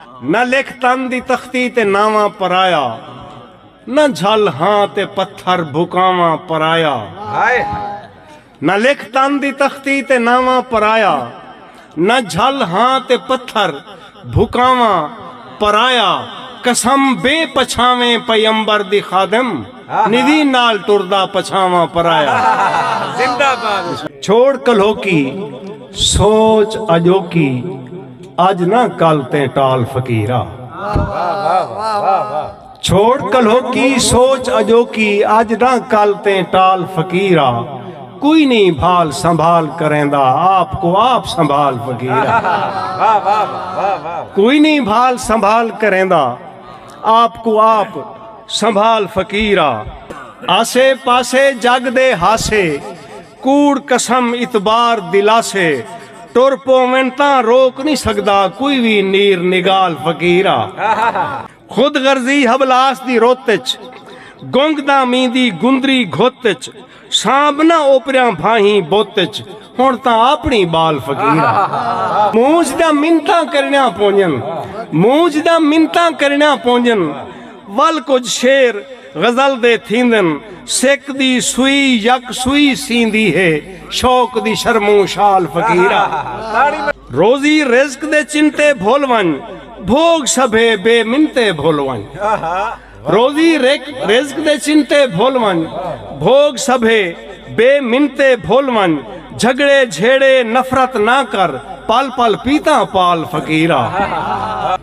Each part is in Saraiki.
نہ لکھ تن دی تختی تے ناواں پرایا نہ جھل ہاں تے پتھر بھکاواں پرایا نہ لکھ تن دی تختی تے ناواں پرایا نہ جھل ہاں تے پتھر بھکاواں پرایا قسم بے پچھاویں پیمبر دی خادم نوی نال ٹردا پچھاواں پرایا چھوڑ کلھوکی سوچ اجوکی اج نہ کل تیں ٹال فقیرا۔ چھوڑ کلہوکی سوچ اجوکی اج نہ کل تیں ٹال فقیرا۔ کوئی نہیں بھال سنبھال کریندا آپ کو آپ سنبھال فقیرا۔ کوئی نہیں بھال سنبھال کریندا آپ کو آپ سنبھال فقیرا۔ آسے پاسے جگ دے ہاسے۔ کوڑ قسم اتبار دلاسے ٹر پوون تاں روک نی سگدا کوئی وی نیر نگال فقیر آ۔ خود غرضی حبلاس دی رت اچ گنگ دا میندی گندری گھت اچ سانب نہ اوپریاں بھاہیں بت اچ ہن تاں آپنی بال فقیر آ۔ مونجھ دا منتاں کرنیاں پونجن مونجھ دا منتاں کرنیاں پونجن ول کجھ شعر۔ غزل دے تھیندن سک دی سوئی یک سوئی سیندی ہے شوق دی شرموں شال فقیرا۔ روزی رزق دے چنتے بھل ونج بھوگ سبھے بے منتے بھل ونج روزی رزق دے چنتے بھل ونج بھوگ سبھے بے منتے بھل ونج جھگڑے جھیڑے نفرت نہ کر پل پل پیتاں پال فقیرا۔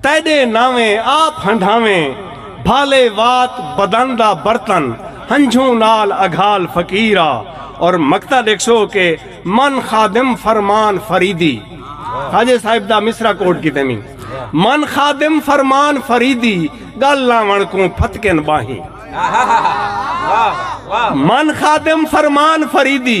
تیݙے ناویں آپ ہنڈھاویں بھالے وات بدن دا برتن ہنجھوں نال اگھال فقیر آ اور مقطع ݙیکھسو کہ من خادم فرمان فریدی خواجہ صاحب دا مصرعہ کوٹ کیتے نی من خادم فرمان فریدی ڳل لاوݨ کوں پھتکن ٻانہیں من خادم فرمان فریدی